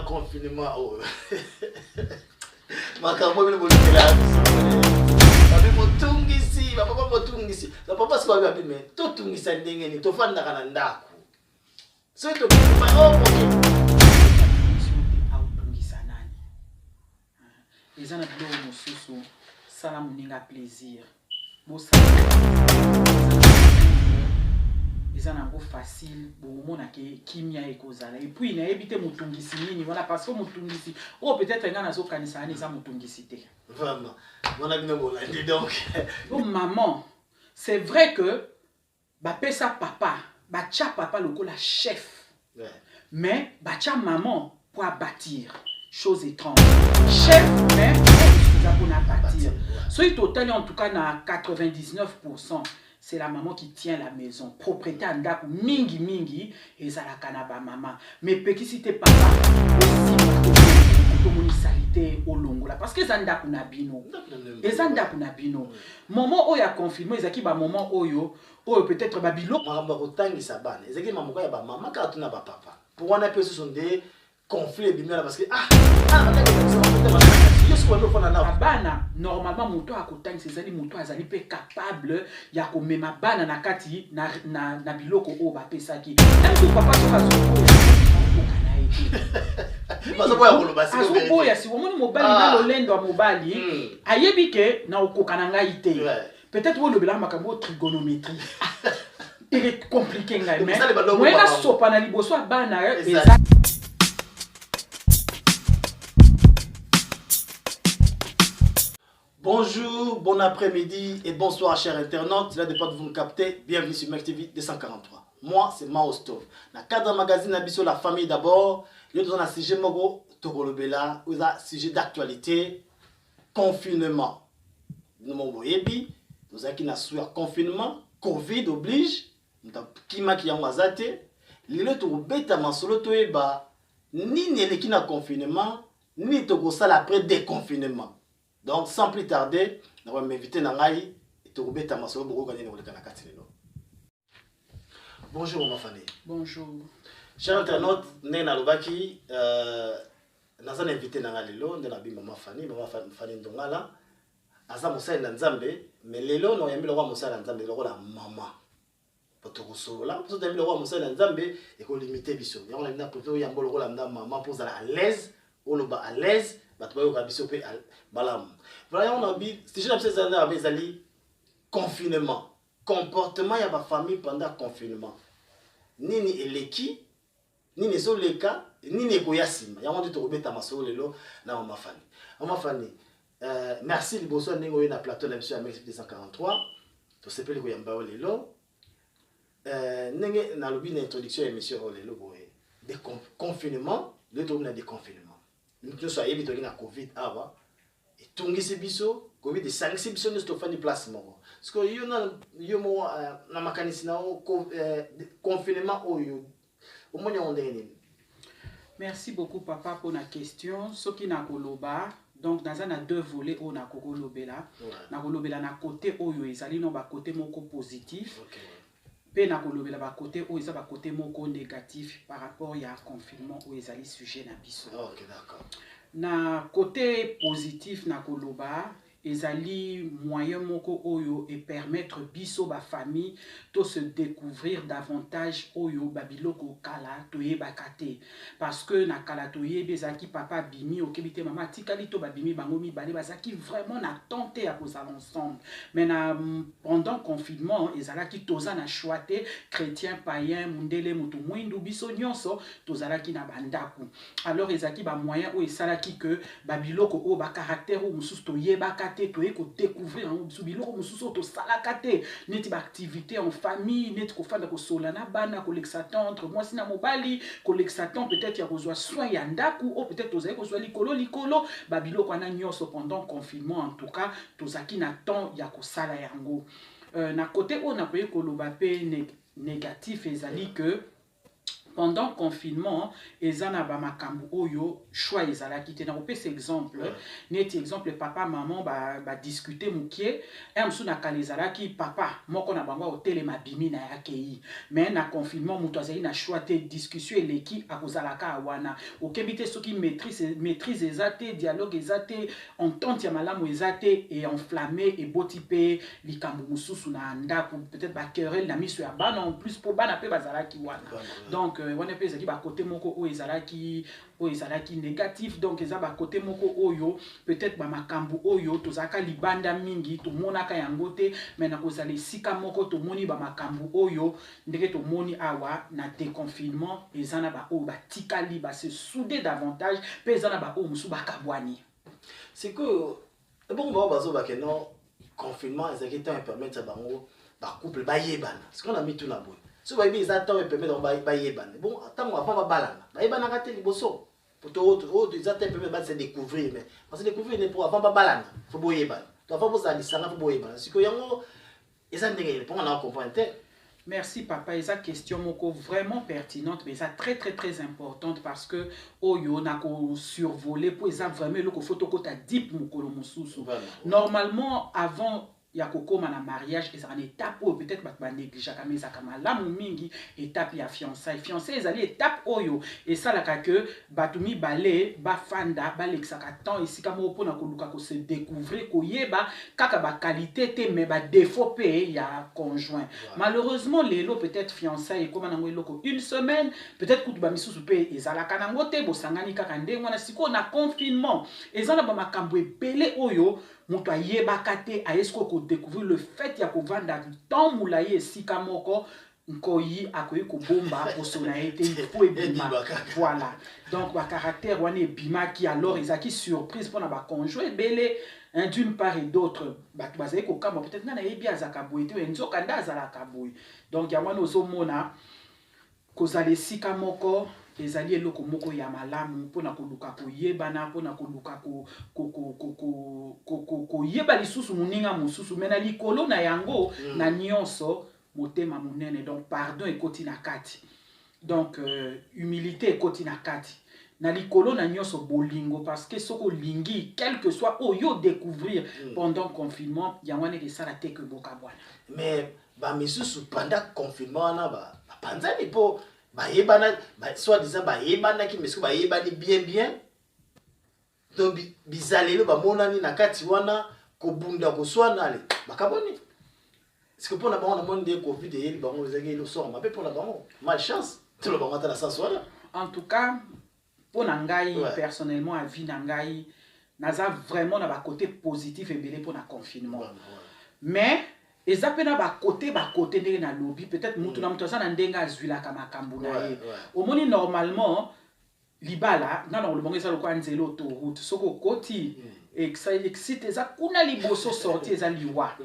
confinement oyo makambo bino bolukela babi motungisi bapapa motungisi bapapa soki babi abime totungisa ndenge nini tofandaka na ndako soki tokokima Eza na biloko mosusu sala moninga plaisir bosala eza nango facile bokomona ke kimia ekozala epuis nayebi te motungisi nini wana parce que motungisi oyo oh, peut-être ngai nazokanisa ani eza motungisi te vraiment wana bino bolandi donc yo maman c'est vrai que Ba pesa papa, ba tia papa lokola chef. Yeah. Mais ba tia maman pour a bâtir. Chose étrange. Chef, mais eza pour na bâtir. Soki totali en tout cas na 99%, c'est la maman qui tient la maison. Propriété ya ndako mingi mingi ezalaka na ba mama mais epekisi te papa tomoni salite olongola parce que eza ndako na bino eza ndako na bino moment oyo ya confirme ezalaki bamoment oyo oyo peut-être babiloko makambo ya kotangisa bana ezalaki mamoka ya bamama kaka tuna bapapa mpo wana mpe susu nde conflit ebimi wana parce que ah bana normalement moto akotangisa ezali moto azali mpe capable ya komema bana na kati na, na, na biloko oyo bapesaki papa soki azokoka na ye azoboya si omoni mobali na lolendo ya mobali ayebi ke na okoka na ngai te peut-être bolobelaka makambo oyo trigonométrie compliqué ngai mais moye nasopa na liboso ya bana eza Bonjour, bon après-midi et bonsoir chers internautes. Là de pas de vous me capter. Bienvenue sur Mac TV 243. Moi c'est Maostov. Na cadre magazine na biso la famille d'abord. Yo dans un sujet moko tokolobela, oza sujet d'actualité confinement bino moko boyebi tozalaki na su ya confinement covid oblige moto akimaki yango aza te lelo tokobeta masolo toyeba nini eleki na confinement nini tokosala après déconfinement donc sans plus tarder na baminvite na ngai tokobeta masolo bokoyoka nini koleka na kati lelo Bonjour ma famille. Bonjour. Cher internaute, ndenge nalobaki euh, naza na invité na nga lelo nde nabi mama Fanny, mama Fanny Ndongala aza mosali na Nzambe, mais lelo na oyambi lokola mosali na Nzambe lokola mama bato kosolola mpo soki oyambi lokola mosali na Nzambe ekolimite biso yango na bina prefe oyamba lokola nda mama mpo ozala à l'aise oloba à l'aise bato bayoka biso mpe malamu vala yango na bi sujet na biso ezali na yango ezali confinement Comportement ya ba famille pendant confinement nini eleki nini ezoleka nini ekoya sima yango nde tokobeta masolo lelo na mama fani mama fani euh, merci liboso ya ndenge oyo na plateau na biso ya 1243 tosepeli koyamba yo lelo euh, ndenge nalobi na introduction ya émission oyo lelo boye de confinement lelo tokomi na deconfinement nyonso ayebi tolinga covid awa etungisi biso covid esangisi biso nyonso tofandi place moko sikoyo yo na yo moko eh, na makanisi na yo eh, confinement oyo omoni yango ndenge nini merci beaucoup papa mpo na question soki nakoloba donc naza na deux volet oyo nakokolobela nakolobela na kote oyo ezali no bakote moko positif okay. Mpe nakolobela ba cote oyo eza ba cote moko negatif par rapport ya confinement oyo ezali sujet na biso. Ah, okay, d'accord. Na cote positif nakoloba ezali moyen moko oyo epermettre biso ba famille to se découvrir davantage oyo ba biloko kala toyebaka te. Parce que na kala toyebi ezalaki papa abimi okebi te maman atikali to babimi bango mibale bazalaki vraiment na temps te ya kozala ensemble mais na pendant confinement ezalaki toza na choix te chrétien païen mundele moto mwindu biso nyonso tozalaki na bandako alors ezalaki bamoyen oyo esalaki que Ba biloko oyo ba caractère oyo mususu to yebaka te toye ko decouvrir yango biso biloko mususu oyo to salaka te neti ba activite en famille neti ko fanda ko solola na bana ko lekisa temps entre mwasi na mobali ko lekisa temps peut etre ya ko zua soin ya ndaku oyo peut etre tozali ko zua likolo likolo ba biloko wana nionso pendant confinement en tout cas tozalaki na temps ya ko sala yango euh, na cote oyo na koki ko loba pe negatif ezali que pendant confinement eza na ba makambo oyo choix ezalaki te nakopesa exemple neti exemple papa maman badiscute ba mokie ya mosusu na kala ezalaki papa moko na bango akotelema bimi na ye akei mais na confinement moto azali na choix te discussion eleki akozalaka wana okebi te soki maîtrise, maîtrise eza te dialogue eza te entente ya malamu eza te e enflamme eboti mpe likambo mosusu na ndako peut-être ba querelle na miso ya bana en plus mpo bana mpe bazalaki wana donc euh, wana mpe ezalaki bakote moko oyo ezalaki oyo ezalaki négatif donc eza bakote moko oyo peut-être bamakambo oyo tozalaka libanda mingi tomonaka yango te mai na kozala esika moko tomoni bamakambo oyo ndenge tomoni awa na déconfinement eza na baoyo batikali base soude davantage mpe eza na baoyo mosusu bakabwani sikoyo ebongo bango bazoba ke non confinement ezalaki ntango epermettre ya bango bacouple bayebana sikoyo na mituna boye soki bayebi eza ntango epermettre bango bayebana bon ntango avant babalana bayebanaka te liboso poto oyo eza te epermettre base découvrir mais base découvrir ne po avant babalana fo boyebana to avant bozala lisanga fo boyebana sikoyo yango eza ndenge nini mponga na comprendre te Merci papa, eza question moko vraiment pertinente mais eza très très très importante parce que oyo na ko survoler po eza vraiment eloko faut tokota deep mokolo mosusu. Normalement avant ya kokoma na mariage ezalaka na étape oyo peut-être bato banegligeaka mais ezalaka malamu mingi étape ya fiançaille fiançaille ezali étape oyo esalaka que Bato mibale bafanda, balekisaka temps esika moko mpo na koluka ko se decouvrir, koyeba kaka ba qualites te mais ba defauts mpe ya conjoint. Malheureusement lelo peut-etre fiançailles ekoma nango eloko une semaine, peut-etre kutu ba misusu mpe ezalaka nango te, bosangani kaka ndenge wana. Sikoyo na confinement, eza na ba makambo ebele oyo moto ayebaka te, aye sikoyo ko decouvrir. Le fait ya kovanda temps molayi esika moko, nkoyi akoki kobomba poso na ye te mpo ebima voilà donc bacaractère wana ebimaki alors ezalaki surprise mpona baconjo ebele d'une part et d'autre bato bazali kokamwa peut-être ngai nayebi azalaka boye te enzoka nde azalaka boye donc yango wana ozomona kozala esika moko ezali eloko moko ya malamu mpona koluka koyebana mpona koluka koyeba lisusu moninga mosusu me na likolo na yango mm. na nyonso Motema munene donc pardon ekoti na kati. Donc euh, humilité ekoti na kati. na likolo na nyonso bolingo parce que soki olingi quelque soit oyo découvrir mm. pendant confinement yango wana ekesala te ke bokabwana mais bamisusu pendant confinement wana bapanzani mpo bayebana soit disant bayebanaki mais soki bayebani bien bien to bizaleli bamonani na kati wana kobunda koswana ale bakaboni sike mpo na bango namoni nde covid eyeli bango ezalaki elosoko mabe mpo na bango mal chance tolo bango ata na sens wana en tout cas mpo na ngai ouais. personnellement avis na ngai naza vraiment na bacoté positif ebele mpo na confinement ouais, ouais. mais eza mpe na bakote bakote ndenge nalobi peut-être motu na mm. motu aza na ndenge azwilaka makambo na ye omoni normalement libala nga na koloba ngo eza lokola nzela autoroute soki okoti hmm. exit eza kuna liboso sorti eza liwa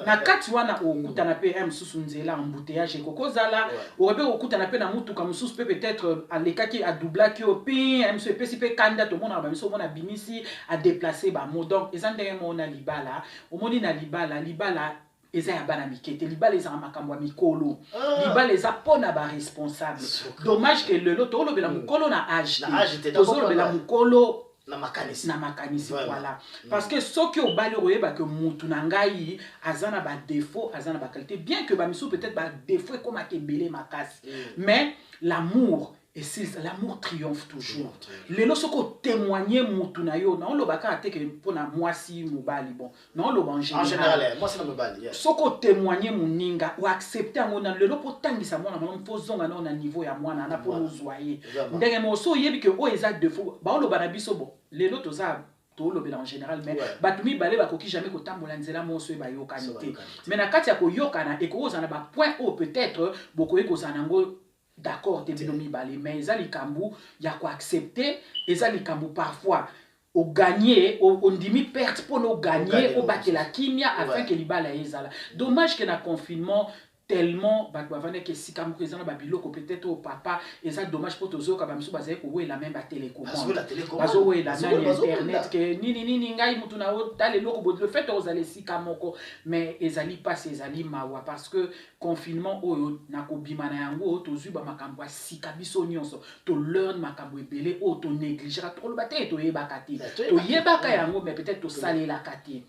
na kati wana okutana mpe ya mosusu nzela embouteillage ekoki kozala okoki mpe kokutana mpe na motuka mosusu mpe peut-être alekaki adoublaki yo mpe ya mosusu epesi mpe kanda tomonaka bamiso omona abimisi adeplace bamo donc eza ndenge moko na libala omoni na libala libala eza ya bana mike te libala ezaka makambo ya mikolo ah. libala eza mpo na baresponsable dommage ke lelo toolobela hmm. mokolo na age te tozolobela mokolo na makanisi na makanisi voilà mm. parce que soki obali okoyeba ke mutu na ngai aza na badefaut aza na baqualité bien que bamisusu peut-être badefaut ekomaka ebele makasi mm. mais l'amour esilisa l'amour triomphe toujours lelo soki otémoigne mutu na yo naoloba kaka te ke mpo na mwasi mobali bon naoloba en général eh, soki otémoigne moninga oaccepte yango na lelo mpo otangisa mwana mwana mpo ozonga nao na niveau ya mwana wana mpo ozwa ye ndenge moko so oyebi ke oyo eza defaut baoloba na biso bon lelo toza tolobela en général mais bato mibale bakoki jamais kotambola nzela moko soki bayokani te mais na kati ya koyokana ekoki kozala na bapoint oyo peut-être bokoki kozala na yango d'accord te bino mibale mais eza likambu ya ko accepter eza likambu parfois o gagner ondimi perte mpo na o gagner obatela kimia afin que libala ye ezala dommage que na confinement tellement bato bavandaki esika moko eza na babiloko peut-être oyo papa eza dommage mpo tozoyoka bamisu bazali kowela meme batelecommande bazowela nani internet ke nini nini ngai motu na otala eloko bo le fait ozala esika moko mais ezali mpasi ezali mawa parce que Confinement oyo na kobima na yango tozui ba makambo ya sika biso nionso to learn makambo ebele oyo to negligeaka tokoloba te toyebaka te toyebaka yango mais peut-être tosalelaka te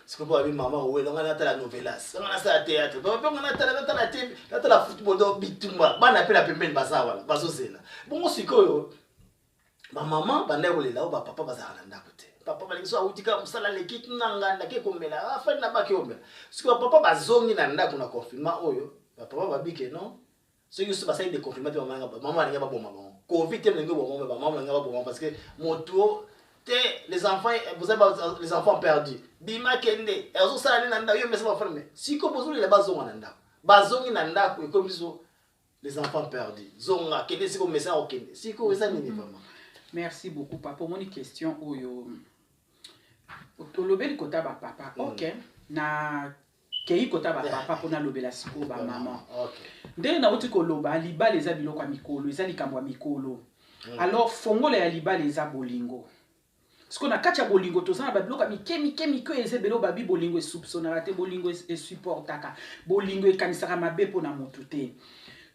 sikoyo mpo abi mama owela ngai natala novelas ngai nasala théâtre mpe ngai natala natala te natala football to bitumba bana mpe na pembeni baza wana bazozela bongo sikoyo ba maman bandaki kolela oyo ba papa bazalaka na ndako te papa balingi so awuti kaka mosala aleki na nganda ake komela afandi na baki omela soki bapapa bazongi na ndako na confinement oyo bapapa babike no soki nyonso basali de confinement te bamama balingi baboma bango covid te balingi boma bamama balingi baboma parce que moto te les enfants les enfants perdu bima kende azosala nde na ndako yo mesa bafrme siko bozolela bazonga na ndako bazongi na ndako ekomi biso les enfants perdus zonga kende siko mesa okende siko eza nini mm-hmm. vraiment merci beaucoup papa omoni question oyo tolobeli kota bapapa mm. ok na kei kota bapapa mpo nalobela sikoyo bamama ndenge nauti koloba libala eza biloko ya mikolo eza likambo ya mikolo mm. alors fongola ya libala eza bolingo siko na kati ya bolingo toza na babiloko ya mike mike mike oyo eza ebele oyo babi bolingo esupsonaka te bolingo esuportaka bolingo ekanisaka mabe mpo na motu te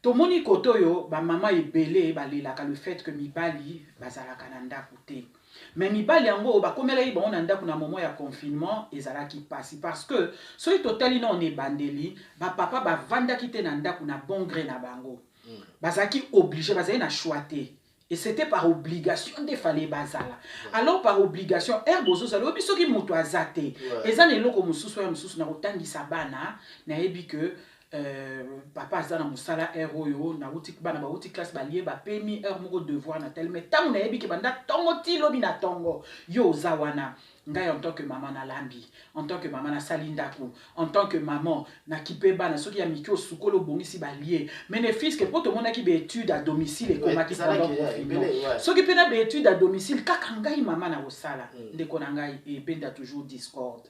tomoni kote oyo bamama ebele balelaka le fait que mibali bazalaka na ndako te me mibali yango bakomelaki bango na ndako na momo ya confinement ezalaki mpasi parce que soki totali nao na ebandeli bapapa bavandaki te na ndako na bon gré na bango mm. bazalaki oblige bazali na choix te et c'était par obligation nde fallait bazala alors par obligation heure bozozala oyebi soki moto aza te eza na eloko mosusu ya mosusu na kotangisa bana nayebi ke euh, papa aza na mosala heure oyo nauti bana bauti classe balie bapemi heure moko devoir na tele mai ntango nayebi ke banda ntongo ti lobi na ntongo yo oza wana ngai en tant que maman nalambi en tant que maman nasali ndako en tant que maman nakipe bana soki ya miki osukoli obongisi balie mais ne fils que mpo tomonaki baétude à domicile ekomaki pendant confinement soki mpe na baétude à domicile kaka ngai mama nakosala mm. ndeko na ngai ebenda toujours discorde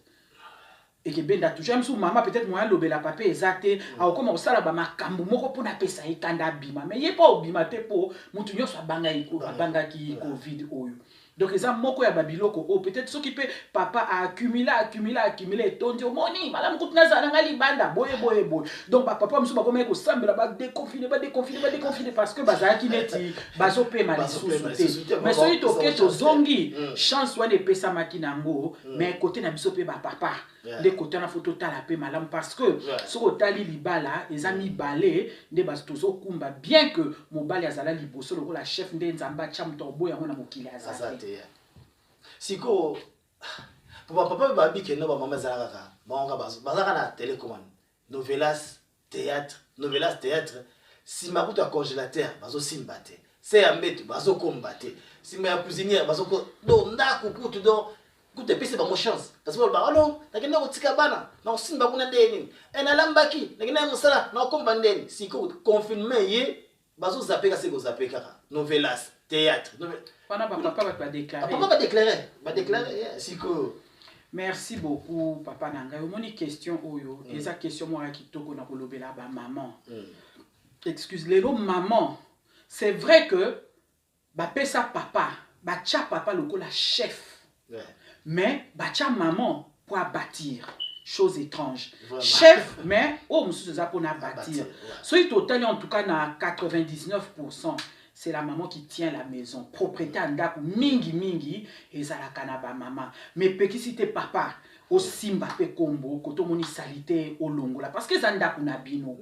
Ekebenda toujours ya misusu mama peut-être moyen alobela papa eza te mm. akokoma kosala ba makambo moko mpo napesa ye kanda abima mais ye mpo aobima te mpo motu nyonso abanga ye abangaki covid oyo donc eza moko ya babiloko oyo peut-être soki mpe papa aaccumula accumula accumula etondi omoni malamu kutu nazala na ngai libanda boye boye boye donc bapapa mosusu bakomaki kosambela badeconfine badeconfine badeconfine parce que bazalaki neti bazopema lisusu te mais soki toke tozongi mm. chance wana epesamaki na yango Mm. mais kote na biso mpe bapapa yeah. nde kotana fo totala mpe malamu parce que yeah. soki otali libala eza mm. mibale nde bato tozokumba bien que mobali azala liboso lokola chef nde nzambe atya moto obo yango na mokili aza te sikoyo po bapapa mpe babikende bamama ezala kaka bango kaka bazalaka na telecommande novelas theatre novelas theatre sima kutu ya congélateur bazosimba te se ya mbetu bazokomba te sima ya cuisinière bazoko do ndako kutu do kutu epesi bango chance kasi baloba alo nakenda kotika bana nakosimba kuna ndenge nini e nalambaki nakenda ya mosala nakokomba ndeni sikoyo confinement ye bazo zape kasi ko zape kaka novelas théâtre wana ba papa ba ba déclarer papa ba déclarer ba déclarer mm. eh, siko merci beaucoup papa na ngai omoni question oyo mm. eza question moko ya kitoko na kolobela ba maman mm. excuse lelo maman c'est vrai que Bapesa papa, batia papa lokola chef mais batia maman po a batir chose etrange chef mais oyo mosusu eza pona a batir soki totali en tout cas na 99 pourcent c'est la maman qui tient la maison propriété ya ndako mingi mingi ezalaka na ba mama mais epekisi te papa osimba pe kombo koto moni salite olongola parce que eza ndaku na bino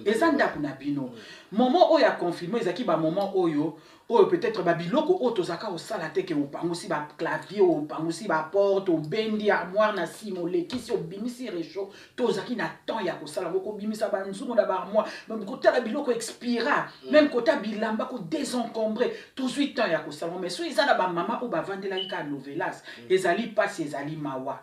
eza ndaku na bino moment oyo ya confinement ezaki ba moment oyo oyo peut-être ba biloko oyo tozaka osala te ke opangusi ba clavier opangusi ba porte obendi armoire na sima olekisi obimisi rechaud to ozaki na temps ya kosala ngo kobimisa ba nzungu na ba armoire même kotala biloko expira mm. même kota bilamba ko désencombrer tozui temps ya kosala mais so eza na ba mama oyo bavandelaki ka novelas Ezali pasi ezali mawa.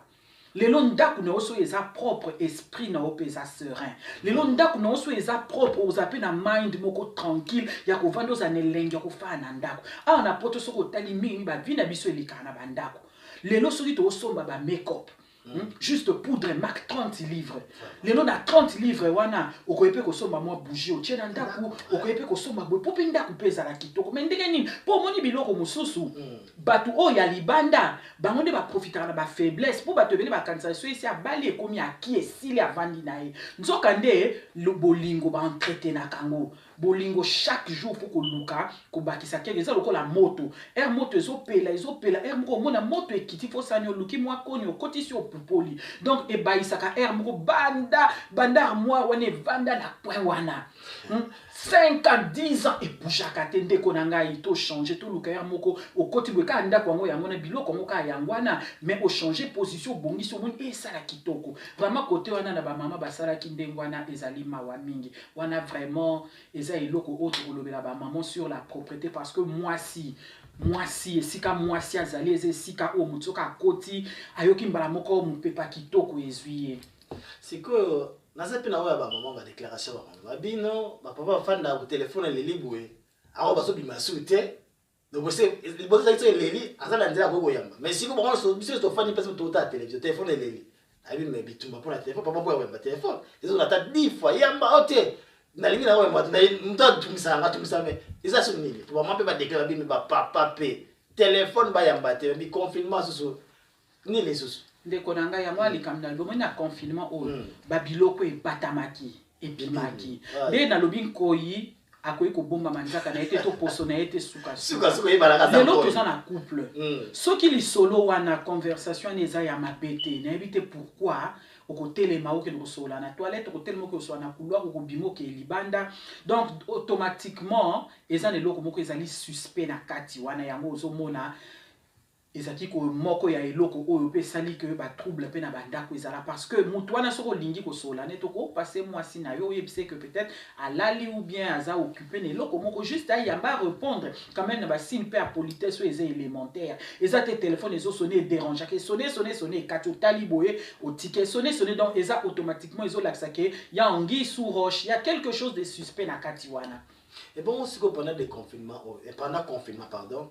Lelo ndaku na yo soki eza propre esprit na yo pe eza serein. Lelo ndaku na yo soki eza propre oza pe na mind moko tranquille ya ko vanda oza na elengi ya ko fanda na ndaku. Awa na poto soki otali mingi ba vie na biso elekaka na ba ndaku. Lelo soki to somba ba makeup Hmm? juste poudre marque 30 livres lelo na 30 livres wana okoki mpe kosomba mwa bougie otie na ndako okoki mpe kosomba boye mpo mpe ndako mpe ezala kitoko mai ndenge nini mpo omoni biloko mosusu hmm. Batu oyo ya libanda bango nde ba profitaka na ba faiblesse po batu ebele bakanisaka soki esi abali ekomi acquis esili avandi na ye nzoka nde bolingo ba entretenaka yango bolingo chaque jour faut koluka kobakisa quelque eza lokola moto heure moto ezopela ezopela heure moko omona moto ekiti fosani oluki mwa koni okotisi opupoli donc ebayisaka heure moko banda banda armoire wana evanda na point wana 5 hmm? ans 10 ans ebouchaka te ndeko na ngai tochange toluka ya moko okoti boye kaka ndako yango yango na biloko yango kaka yango wana mais ochange position obongisi omoni eh, esala kitoko vraiment kote wana na bamama basalaki ndenge wana ezali mawa mingi wana vraiment eza eloko oyo tokolobela bamaman sur la propreté parce que mwasi mwasi esika mwasi azali eza esika oyo moto soki akoti ayoki mbala moko mopepa kitoko ezwi ye sikoyo naza mpe na oyo ya bamama badéclaration ya bamama babino bapapa bafandaka kotelefone eleli boye ako bazobima ya suri te liboso ezali so eleli aza na nzela akoki koyamba mai siko bango nyonso biso nyonso tofandi mpasi totala televizio telefone eleli ayebi me bitumba mpo na telefone papa mpo ya koyamba telefone ezozala ata dix fois yamba o oh, te nalingi na koyamba moto atumisaka nga atumisa me eza so nini po bama mpe badeklare bino bapapa mpe telefone bayamba te biconfinement susu nini lisusu ndeko na ngai ya mwa likambo na lomoni na confinement oyo mm. babiloko ebatamaki ebimaki mm. nde nalobi nkoyi akoki kobomba manzaka na ye te to poso na ye te sukasulelo toza na couple mm. soki lisolo wana conversation wana eza ya mabe te nayebi te pourquoi okotelema okende kosolola na toilette okotelema oke kosolola na couloir okobima oke libanda donc automatiquement eza na eloko moko ezali suspect na kati wana yango ozomona Ezalaki ko moko ya eloko oyo pe esali que ba troubles pe na ba ndaku ezala parce que mutu wana soki olingi ko solola naye to ko passer muasi nayo oyebisa ye que peut etre alali ou bien aza occupe na eloko moko juste ayamba a repondre quand meme na ba signe pe ya politesse oyo eza elementaire eza te telephone ezo sonner e derangeaka e sonner e sonner e sonner ekati otali boye otiki e sonner e sonner donc eza automatiquement ezo lakisa que ya anguille sous roche ya quelque chose de suspect na kati wana. Ebongo sikoyo pendant deconfinement oyo eh, pendant confinement pardon,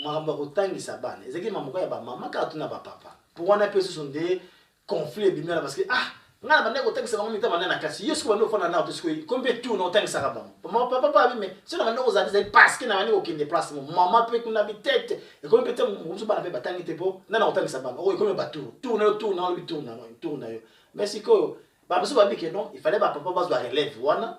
makambo ya kotangisa bana ezalaki makambo moko ya bamama kaka tuna bapapa mpo wana mpe susu nde conflit ebimi wana parce que ah ngai na bandaki kotangisa bango mitama nde na kasi yo soki bandi ofanda nao te soki ko mpe tour na otangisaka bango papa mpe abi me soki na bandaki kozala te ezali parce que na bandi kokende place mo mama mpe kuna bitete ekomi mpe te mokomosu bana mpe batangi te mpo ngai na kotangisa bana oyo ekomi batour tour na yo tour na olobi tour na yo tour na yo mais sikoyo bamosusu babi ke non ifale bapapa bazwa relève wana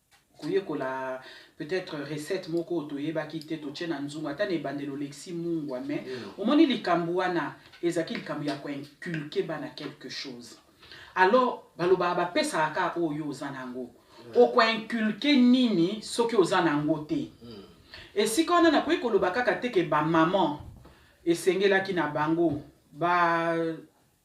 koyekola peut-être recette moko oyo toyebaki te totie na nzungu ata na ebandeli olekisi mungwa mais mm. omoni likambo wana ezalaki likambo ya koinculke bana quelque chose alors balobaka bapesaka kaka oyo oza na yango mm. okoinculke nini soki oza na yango te mm. esika wana nakoki koloba kaka te ke bamaman esengelaki na bango ba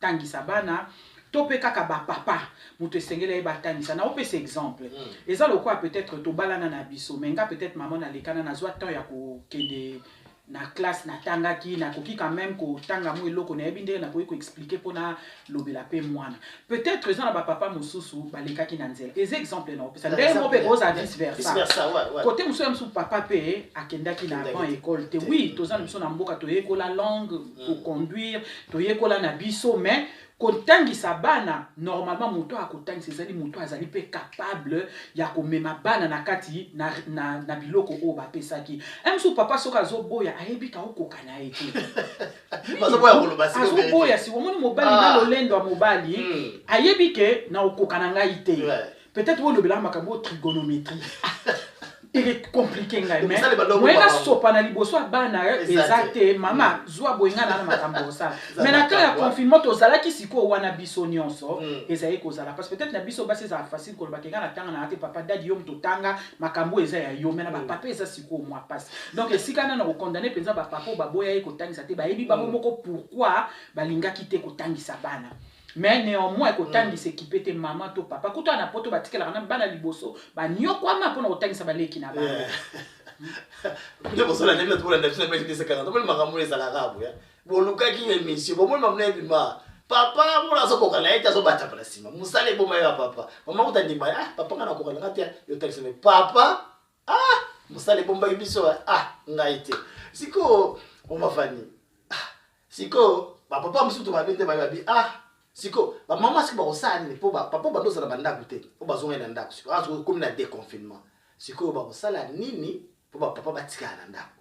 tangisa bana to pe kaka ba papa mutu esengeli ayeba atangisa na opesa exemple mm. eza lokola peut-être tobalana na biso mais nga peut-être maman nalekana nazwa temps ya kokende na classe natangaki nakoki quand même kotanga mwa eloko nayebi ndenge nakoki koexplike mpo nalobela mpe mwana peut-être eza na bapapa mosusu balekaki na nzela eza exemple na opesa ndenge moko mpe koza vice versa kote mosusu ya mosusu papa mpe akendaki na grand école te oui toza na biso na mboka toyekola langue mm. koconduire Toyekola na biso mais kotangisa bana normalement moto oyo akotangisa ezali moto oyo azali mpe capable ya komema bana na kati na, na, na biloko oyo bapesaki msu papa soki azoboya ayebi kaokoka na ye te azoboya si omoni mobali na ah. lolendo ya mobali hmm. ayebi ke na okoka na ngai te peut-être oyo olobelaka makambo oyo trigonométrie compliqué ngai mais moye nasopa na liboso ya bana eza te mama zwa boye ngai naa na makambo kosala mais na temps ya confinement tozalaki sikoyo wana biso nyonso mm. ezali kozala parce peut-être na biso basi ezala facile koloba kenga na tanga na te papa dadi yo moto otanga makambo eza ya yo mais na bapapa mm. eza sikoyo mwa mpasi donc esika nana kokondane mpenza bapapa oyo baboyaki kotangisa te bayebi bango mm. moko pourquoi balingaki te kotangisa bana Mais neanmoins kotangisa ekipe te maman to papa kutu awa na poto batikelaka na bana liboso baniokwama mpo na kotangisa baleki na bango nde kosala ndenge nati bolanda biso na mesi ndesakana tomoni makambo oyo ezalaka boya bolukaki na emission bomoni mamuna ebima papa mona azokokana ye te azobataka na nsima mosala eboma ye ya papa mama kuta ndima ah papa nga nakokana nga te yotangisa me papa ah mosala ebombaki biso eh. ah ngai te sikoyo omafani ah sikoyo bapapa mosusu to babe nde babi ah sikoyo bamama soki bakosala nini mpo papa bando ozala bandako te mpo bazongaki na ndako sikoyo azokomi ah, na déconfinement sikoyo bakosala nini mpo bapapa batikala na ndako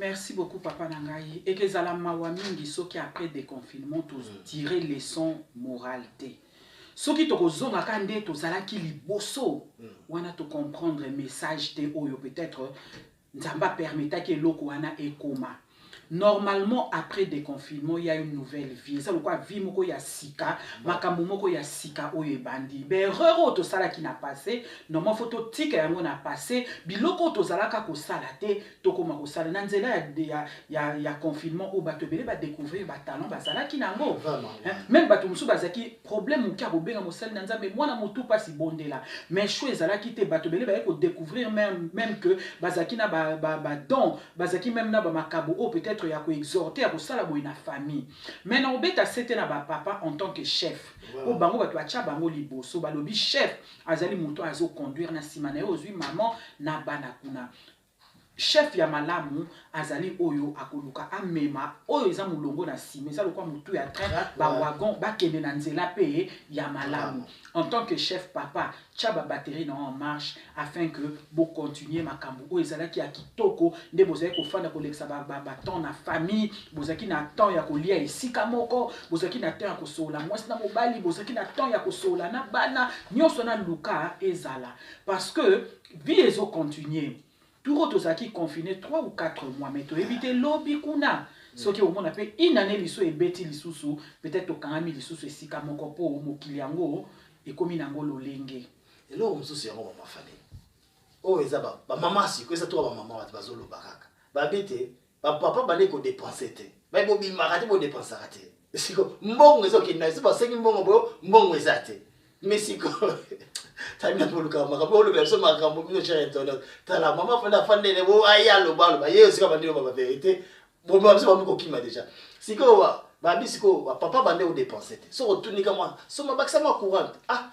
Merci beaucoup papa na ngai ekezala mawa mingi soki après déconfinement to mm. tire leçon morale te soki tokozonga ka nde tozalaki liboso mm. wana to comprendre message te oyo peut-être nzambe apermetaki eloko wana ekoma normalement après déconfinement il y a une nouvelle vie eza lokola vie moko ya sika makambo moko ya sika oyo ebandi baerreur oyo tosalaki na passé Normalement faut to tika yango na passe, biloko oyo tozalaka kosala te tokoma kosala na nzela ya, ya, ya, ya confinement oyo bato ebele ba decouvrir ba talents bazalaki na yango hein? meme bato mosusu bazalaki problème moke ya kobenga mosali na nzambe mwana motu mpasi bondela mais choix ezalaki te bato ebele baye kodecouvrir meme, meme que bazalaki na ba, ba, ba don bazalaki meme na bamakabo oyo peut-être ya koexhorte ya kosala boye na famille mais na obeta sete na bapapa en tant que chef oyo bango bato batya bango liboso balobi chef Azali moto oyo azo conduire na sima na ye ozui maman na bana kuna. Chef ya malamu azali oyo akoluka amema oyo eza mulongo na sima eza lokwa mutu ya train ba wagon bakende na nzela pe ya malamu. En tant que chef papa tia ba batterie na yo en marche afin que bo continuer makambu oyo ezalaki ya kitoko nde bozali kofanda kolekisa ba temps na famille bozalaki na temps ya kolia esika moko bozalaki na temps ya kosolola mwasi na mobali bozalaki na temps ya kosolola na bana nyonso na luka ezala parce que vie ezo continuer turo tozalaki confine 3 ou 4 mois mais toyebi te lobi kuna soki omona mpe une année liso ebeti lisusu peut-être tokangami lisusu esika moko mpo mokili yango ekomi na yango lolenge eloko mosusu yango bamafale oyo eza bamama siko eza toka bamama bato bazoloba kaka babi te Ba papa bande ko depenser te. Ba bo bimaka te bo depensaka te. Siko mbongo ezo kenda ezo ba sengi mbongo bo mbongo eza te. Mais siko tali na poluka makambo olobi biso makambo bino cher internet. Tala mama fanda fanda ne bo aya lo balo ba yeyo sika bande ba verite. Bo ba biso ba miko kima deja. Siko ba ba bisiko ba papa bande ko depenser te. Soko tunika mwa soma bakisa mwa courant. Ah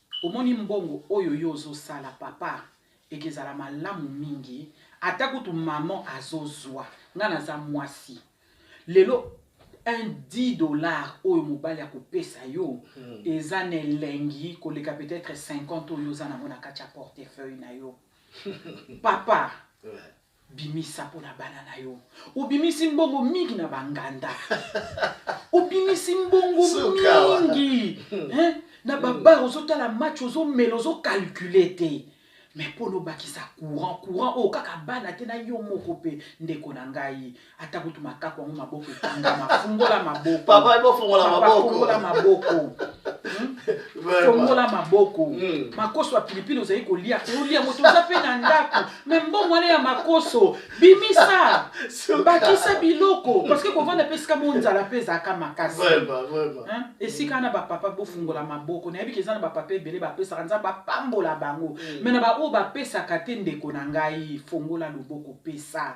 Omoni mbongo oyo yo ozo sala papa ekezala malamu mingi ata kutu maman azo zua nga naza muasi lelo un 10 dollars oyo mobali akopesa yo eza na elengi koleka peut etre 50 oyo yo oza nango na kati ya portefeuille nayo papa Bimisa mpo na bana na yo. Obimisi mbongo mingi na banganda. Obimisi mbongo mingi. Hein? Na babar hmm. ozotala match ozomela ozocalcule te. Mais mpo na obakisa courant, courant oyo kaka bana te na yo moko mpe ndeko na ngai. ata kutu makako yango maboko ekangama fungola maboko papa ebo fungola maboko fungola maboko hmm? fongola maboko hmm. makoso ya pilipili ozali kolia olia moto oza mpe na ndako me mbongo wana ya makoso bimisa bakisa biloko parceke kovanda mpe esika monzala mpe ezalaka makasi esika wana bapapa bofungola maboko nayebi ke eza na bapapa ebele bapesaka nzambe bapambola bango me hmm. na baoyo bapesaka te ndeko na ngai fongola loboko pesa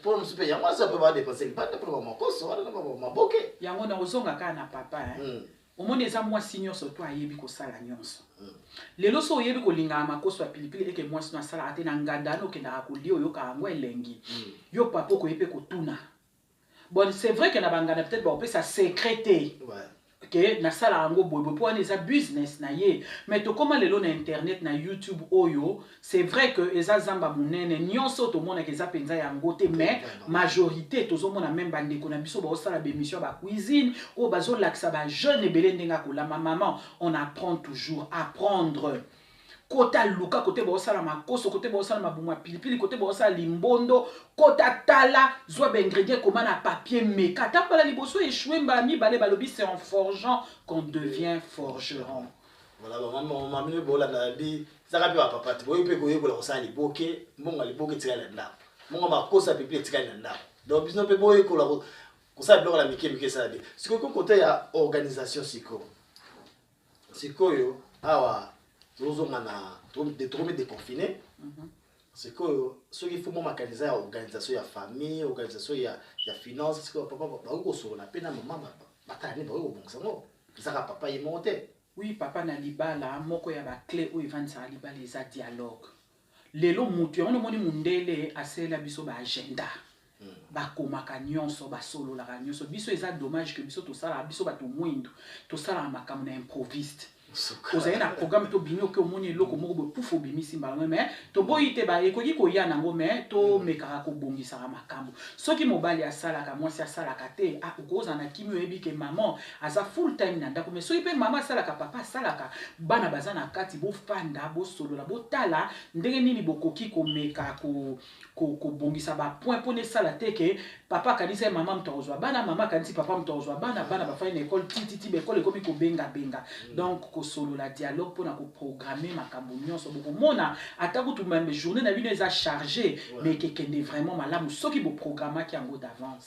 mpo mosusu mpe yango aza mpe badepase libanda mpo na bamakoso wana na maboke yango na ozonga kaka na papa hmm. omoni eza mwasi nyonso to ayebi kosala nyonso hmm. lelo so oyebi kolingaka makoso ya pilipili eke mwasi no asalaka te na nganda ano okendaka kolia oyokaka yango elengi hmm. yo papa okoye mpe kotuna Bon, c'est vrai que na bangana peut-être bakopesa secret te. Ouais. ke nasala yango boye boye mpo wana eza business na ye mais tokóma lelo na internet na youtube oyo c'est vrai que eza zamba monene nyonso tomonaka eza mpenza yango te mais majorité tozomona meme bandeko na biso baosala baémission ya bacuisine oyo bazolakisa bajeune ebele ndenge akolama maman on apprend toujours apprendre kota luka kote baosala makoso kote baosala mabumu ya pilipili kote baosala limbondo kota tala zwa baingredient ekoma na papier meka ata mbala liboso echoue mbala mibale balobi c'est en forgeant qu'on devient forgeron voilà bamama mami oyo bolanda yabi zaka mpe bapapa te boyebi mpe koyekola kosala liboke mbongo ya liboke etikali na ndako mbongo ya makosa pipi etikali na ndako donc bino mpe boyekola kosala biloko na mike mike esala te sikoki kota ya organisation sikoyo sikoyo awa tozozonga na tokomi déconfine mhm. sikoyo soki fo mwa makanisi eza ya organisation ya famille organisation ya, ya finance sikoyo papa bakoki kosolola mpe na mama batala nini bakoki kobongisa yango ezaka papa ye moko te oui papa na libala moko ya baclé oyo evandisaka libala eza dialogue Lelo mutu yango nomoni mundele asalela biso ba agenda. Hmm. Bakomaka nyonso, basololaka nyonso. Biso eza dommage que biso tosalaka biso bato mwindu tosalaka makambo na improviste. ozali na programme to bimi oke omoni eloko moko boye pufu obimisi mbala moko mais toboyi te ba ekoki koya nango mais tomekaka mm. kobongisaka makambo soki mobali asalaka mwasi asalaka te ah, okozala na kimi oyebi ke maman Aza full time na ndaku mais soki pe mama asalaka papa asalaka bana baza na kati bofanda bosolola botala ndenge nini bokoki komeka kobongisa ba point pona esala te ke papa akanisa ye mama moto akozwa bana mama akanisi papa moto akozwa bana bana bafandi na ekole tititi baekole ekomi kobengabenga mm. donc kosolola dialogue mpona koprograme makambo nyonso bokomona ata kutu mame journée na bino eza charge mais kekende vraiment malamu soki boprogramaki yango d'avance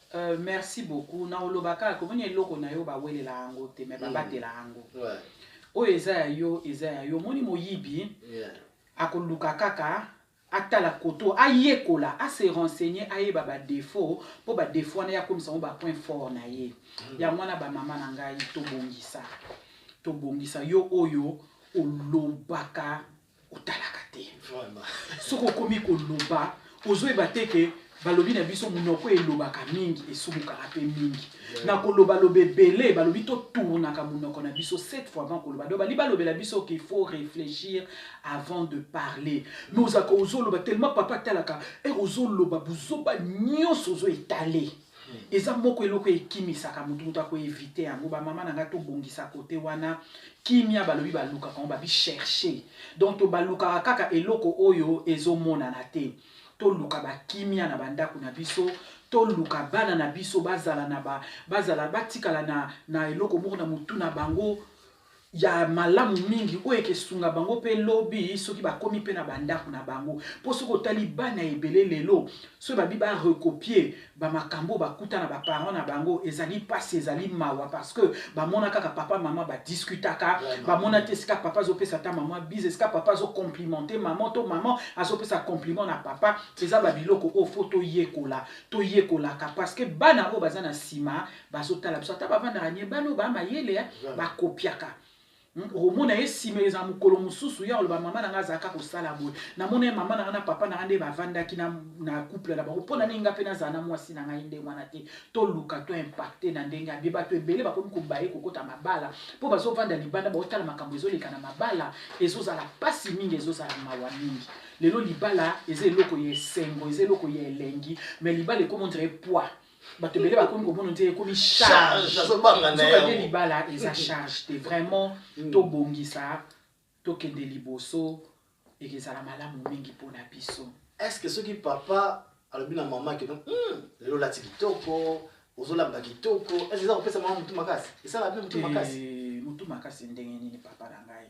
Euh, merci beaucoup na oloba kaka komoni eloko na yo bawelela yango te me mm. babatela yango oyo eza ya yo eza ya yo omoni moyibi akoluka kaka atala koto ayekola ase renseigner ayeba badefaut mpo badefaut wana ye akomisa yango bapoint fort na ye mm. yango wana bamama na ngai tobongisa tobongisa yo oyo olobaka otalaka te soki okomi koloba ozoyeba te ke balobi na biso monoko elobaka mingi esukukaka mpe mingi na kolobaloba ebele balobi totournaka monoko na biso cette fois avant koloba donc bali balobela biso qu'il faut réfléchir avant de parler mais ozalaka ozoloba tellement papa atalaka ere eh, ozoloba buzoba nyonso ozo etale eza moko eloko ekimisaka motu motu akoevite yango bamama na ngai tobongisa kote wana kimia balobi balukaka yango babi cherche donc tobalukaka kaka eloko oyo ezomonana te toluka bakimia na bandako na biso toluka bana na biso bazala na ba, bazala batikala na, na eloko moko na motu na bango ya malamu mingi oyo ekesunga bango mpe lobi soki bakomi mpe na bandako na bango mpo soki otali bana ebele lelo soki babi ba recopie bamakambo bakuta na baparent na bango ezali mpasi ezali mawa parce que bamona kaka papa mama badiskutaka bamona te esika papa azopesa ta mama bise esika papa azocomplimente mama to mama azopesa compliment na papa eza babiloko oyo fo toyekola toyekolaka parce que bana oyo baza na nsima bazotala biso ata bavandaka nie bana oyo baa mayele bakopiaka hmm, okomona ye nsima ezala mokolo mosusu ya koloba mama na ngai azalaka kosala boye namona ye mama na ngai na papa na ngai nde bavandaki na couple na bango mpo na nini ngai mpe nazala na mwasi na ngai ndenge wana te toluka to impacte na ndenge ya bie bato ebele bakomi kobaye kokota mabala mpo bazovanda libanda baotala makambo ezoleka na mabala ezozala mpasi mingi ezozala mawa mingi lelo libala eza eloko ya esengo eza eloko ya elengi mai libala ekomondre poids bato ebele bakomi komona nde ekomi chargeokende libala eza charge te vraiment hmm. tobongisa tokende liboso ekezala malamu mingi mpo na biso estce soki papa alobi na mama ke hmm, lelo olati kitoko ozolamba kitoko estce eza kopesa mama motu makasi esala bino motu makasi eh, motu makasi ndenge nini papa na ngai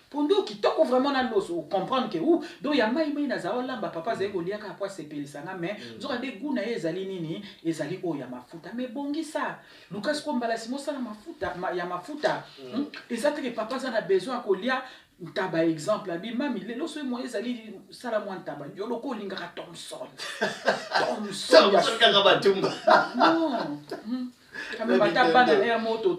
Pondu kitoko vraiment na loso o comprendre que ou donc ya mayi mayi na zao lamba papa azali ko lia kaka po asepelisa nga mais mm. nzoka nde goût na ye ezali nini ezali oyo ya mafuta mais bongisa luka siko mbala sima osala mafuta ma, ya mafuta mm. hmm? eza te que papa aza na besoin ya kolia ntaba exemple abi mami lelo soki moye ezali sala mwa ntaba yo loko olingaka thomson thomson ya batumba non hmm. ata bana heure moko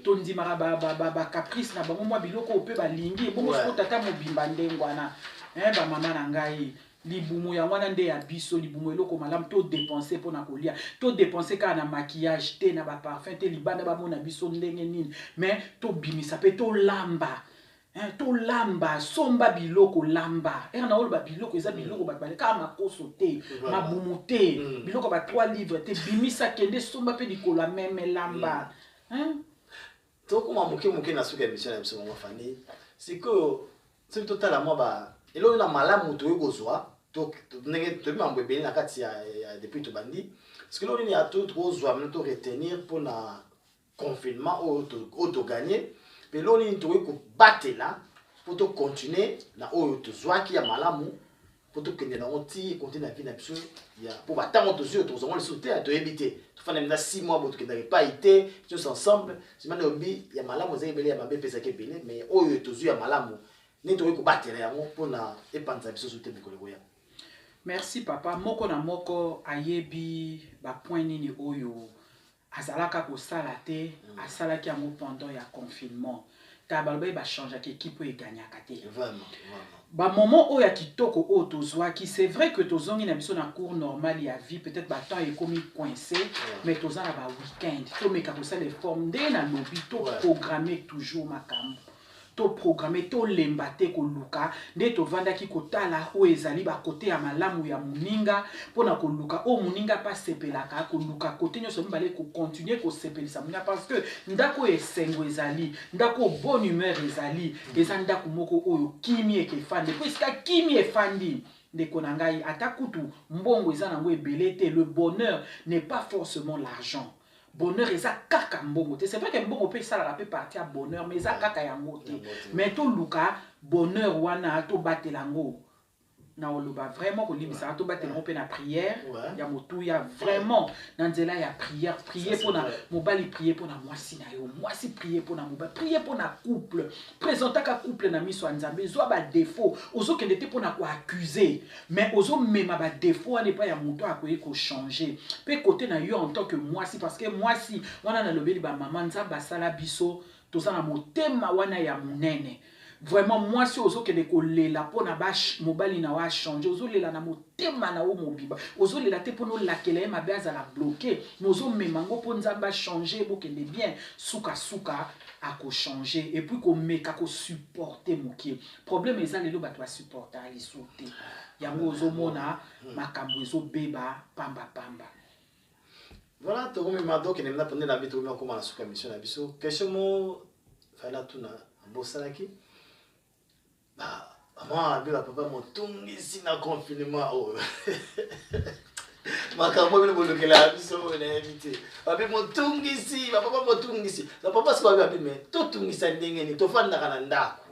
tondimaka bacaprice na bango mwa biloko oyo mpe balingi ebongo soko tata mobimba ndenge wana bamama na ngai libumu yango wana nde ya biso libumu eloko malamu todepense mpo na kolia todepense kaka na maquillage te na baparfum te libanda bamona biso ndenge nini mais tobimisa mpe tolamba Eh, tolamba somba biloko lamba ere eh, naoloba biloko eza biloko mm. bato bale kaka makoso te mabumu te mm. biloko ba 3 livre te bimisa kende somba mpe likolo ya meme lamba mm. eh? tokoma moke moke na suka ya emission na biso mama fani sikoyo soki totala mwa ba eloko na malamu toyei kozwa ndenge toyebi mambo ebele na kati ya depuis tobandi sikoyo eloko nini ya to tokozwa mino to retenir mpona confinement oyo oyo toganye mpe eloko nini tokoki kobatela mpo tokontinue na oyo tozwaki ya malamu mpo tokende nango ti ekonte na vie na biso ya mpo bantango tozwi oyo tokozango lisusu te toyebi te tofanda mpenza six mois bo tokendaka epai te tous ensemble simani obi ya malamu ezaki ebele ya mabe mpe ezaki ebele mais oyo tozwi ya malamu nini tokoki kobatela yango mpo na epanza biso zu te mikolo ekoya merci papa moko na moko ayebi bapoint nini oyo azalaka kosala te asalaki yango pendant ya confinement kala baloba ye bachangeaka ekipe oyo eganyaka te bamoment oyo ya kitoko oyo tozwaki c'est vrai que tozongi na biso na cours normal ya vie peut-être batemps ekomi coince mais toza na baweekend tomeka kosala effort nde nalobi toprogramme toujours makambo To programme to lemba te ko luka nde to vandaki ko tala oyo ezali ba cote ya malamu ya muninga pona ko luka oyo muninga pa sepelaka ko luka cote nionso mibale ko continuer ko sepelisa muninga parce que ndaku oyo esengo ezali ndaku oyo bonne humeur ezali eza ndaku moko oyo kimia eke efandi po esika kimia efandi ndeko na ngai ata kutu mbongo eza nango ebele te le bonheur n'est pas forcement l'argent bonheur eza kaka mbongo te c'est vrai que mbongo mpe esalaka mpe parti ya bonheur mais eza kaka yango te mais toluka bonheur wana tobatela yango na oloba vraiment kolimbisaka tobatela yango mpe na prière ya motuya vraiment na nzela ya prière prier mpona mobali prier mpona mwasi na yo mwasi prier mpona mobali prier mpona couple presentaka couple na miso ya nzambe zwa badefaut ozokende te mpo na koaccuse mais ozomema badefaut wana epai ya moto akoki kochange mpe kote na yo en tant que mwasi parce que mwasi wana nalobeli bamama nzambe asala biso toza na motema wana ya monene vraiment mwasi ozokende kolela mpo na mobali na yo achange ozolela na motema motema na yo mobimba ozolela te mpona olakela ye mabe azala bloke me ozomema yango mpo nzambe achange bokende bien sukasuka akochange epuis komeka kosupporte moke probleme eza lelo bato basupporta lisu te yango ozomona hmm. makambo ezobeba pamba pamba voilà tokomi madoki na mina pende na bitu na koma na suka mission na biso question mo fala tuna bosalaki maman abe ba papa motungisi na confinement oyo makambo bino bolukelaka biso oyo nayebi te babi motungisi bapapa motungisi bapapa soki babi babi me totungisa ndenge nini tofandaka na ndako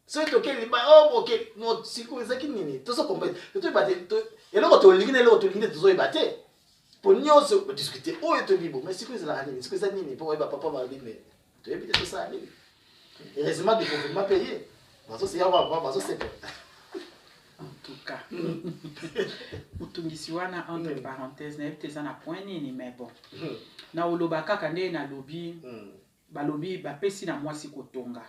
soki tokeli ba o oh, boke sikoyo ezalaki nini tozo comprendre toyeba te eloko tolingi na eloko tolingi te tozoyeba te mpo nyonso odiscute oyo tolibo me sikoyo ezalaka nini sikoyo eza nini mpo bayeba papa babi me toyebi te tosala nini heureusement du gouvernement payé bazoseya baba bazosepela en tout cas motungisi wana entre mm. parenthèse nayebi te eza na point nini mais bon mm. na oloba kaka ndenge nalobi mm. balobi bapesi na mwasi kotonga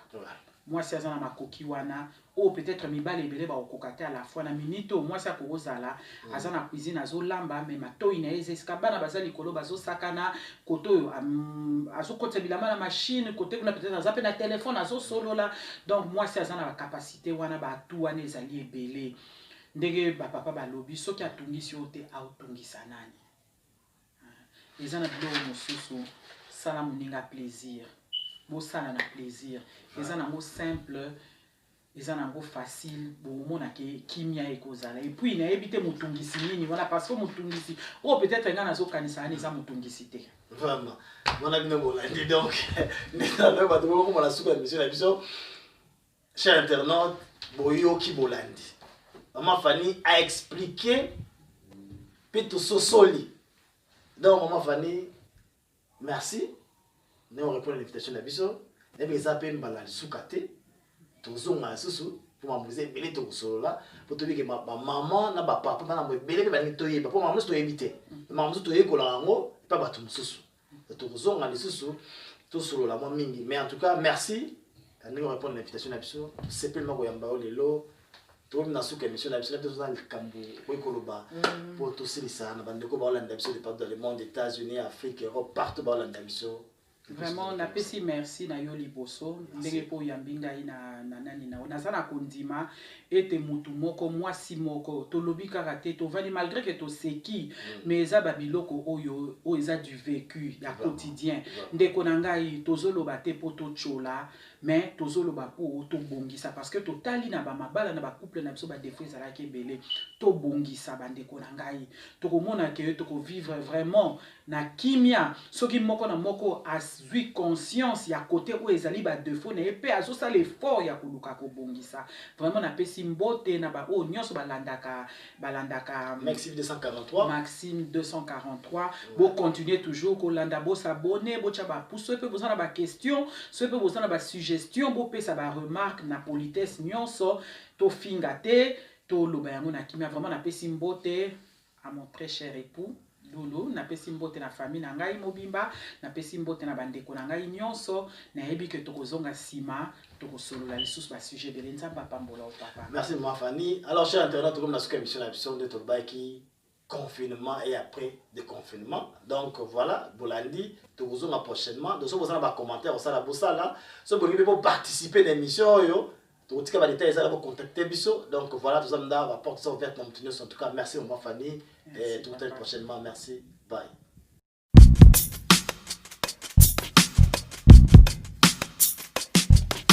mwasi aza na makoki wana oyo peut etre mibali ebele bakokoka te à la fois na minute oyo mwasi akokozala mm. aza na cuisine azolamba me matoi na ye eza esika bana baza likolo bazosakana kote oyo azokotisa bilamba na machine kote kuna peut-être aza mpe na telefone azosolola donc mwasi aza na bacapacité wana baatu wana ezali ebele ndenge bapapa balobi soki atungisi oyo te aotungisa nani eza na biloko mosusu sala moninga plaisir bosala na plaisir eza nango simple eza nango facile bokomona ke kimia ekozala epuis nayebi te motungisi nini wana parce que motungisi oyo oh, peut-être ngai nazokanisa yani eza motungisi te vraiment wana bino bolandi donc nde bato bokomona suka ya misio na biso Cher internaute, boyoki bolandi. Maman Fanny a expliqué puis tout sosoli. Donc maman Fanny, merci. Nous répondons à l'invitation de la biso. Nous avons zappé mbala suka te. Tozonga la susu pour m'amuser ebele to solola pour tobi que ma maman na ba papa na mo ebele ba ni toyeba pour maman to yebite. Maman to yekola ngo pa bato mosusu. tokozonga lisusu tosolola mwa mingi mais en tout cas merci ndenge orépondre na invitation na biso tosepeli mako yamba yo lelo tokomi na suka émission na biso nabi toza likambo okoki koloba mpo mm. tosilisa na bandeko baolanda biso de partout dans le monde états-unis afrique europe partout baolanda biso vraiment napesi merci na yo liboso ndenge mpo oyambi ngai na, na nani na naza na kondima ete mutu moko muasi moko tolobi kaka te tovandi malgre que toseki mm. mais eza ba biloko oyo oyo eza du vecu ya quotidien ndeko na ngai tozoloba te po totyola mais tozoloba po tobongisa parce que totali na ba mabala na ba couple na biso ba défaut ezalaki ebele tobongisa bandeko na ngai tokomona ke tokovivre vraiment na kimia soki moko na moko azui conscience ya cote oyo ezali ba defaut na ye pe azosala effort ya koluka kobongisa vraiment napesi mbote na ba oyo nionso balandaka balandaka Maxime 243 Maxime 243 bo continuer toujours kolanda bo s'abonner botia ba pouce soki pe boza na ba question soki pe boza na ba suggestion bopesa ba remarque na politesse nionso tofinga te toloba yango na kimia vraiment napesi mbote A mon très cher epoux Lulu, napesi mbote na famille na ngai mobimba, napesi mbote na bandeko na ngai nyonso, nayebi ke tokozonga nsima tokosolola lisusu ba sujet ebele. Nzambe apambola yo papa. Merci maman Fanny. Alors cher internaute, tokomi na suka émission na biso nde tolobaki confinement et après de confinement donc voilà bolandi tokozonga prochainement donc soki boza na bacommentaire osala bosala soki bolingi mpe boparticipe na émission oyo tokotika badetail ezala bocontacte biso donc voilà toza mda baporte eza ouverte na moto nyonso en tout cas merci mama fanny eh, tokutani prochainement merci bye